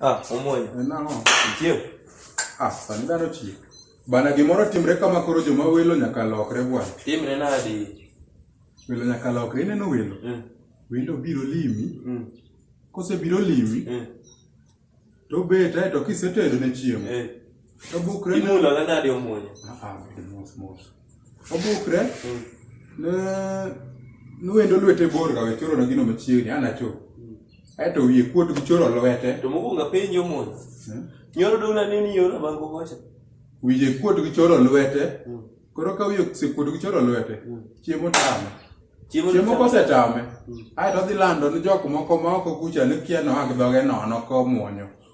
Ah, omoyo. Eh, nang'o? Ichiew. Ah, sani dhano chiew. Bana gimoro timre kama koro joma welo nyaka lokre bwana. Timre nadi? Welo nyaka lokre ineno welo. Mm. Welo biro limi. Mm. Kose biro limi. Mm. To bet ae to kisetedo ne chiemo. Eh. To bukre. Imulo nadi omoyo. Ah, ah, mos mos. Obukre. Mm. Ne nuendo lwete bor ga wechoro na gino machiegni ana cho. Mm. Aeto wiye kuot gi choro lwete. To mokuongo apenjo mon. Hmm? Nyoro dona ni ni yoro bango kocha. Wiye kuot gi choro lwete. Hmm. Koro ka wiye sekuot gi choro lwete. Hmm. Chiemo tamo. Chiemo kosetame, hmm. aeto odhi lando ni jok moko ma oko kucha ni kia noa gi dhoge nono komwonyo.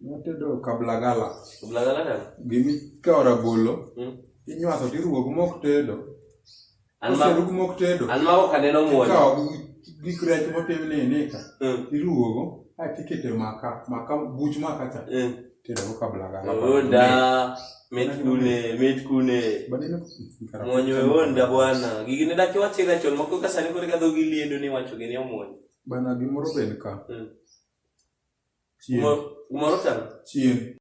Watedo kablagala. Kablagala nani? Gimi kao rabolo. Mm. Inywaso tiruwo gi mok tedo. Almaru gi mok tedo. Almaru ka neno muoyo. Kao gi krech motim ni ni ka. Mm. Iruwo go. Hai tikete maka. Maka buch maka cha. Mm. Tedo go kablagala. Oda. Met kune. Met kune. Badine kukara. Mwonyo e onda bwana. Gigi ne daki wachira chon. Moko kasani kore kadho giliendo ni wacho gini omonyo. Bana gimoro bed ka. Chieng'. Gimoro chal. Chieng'.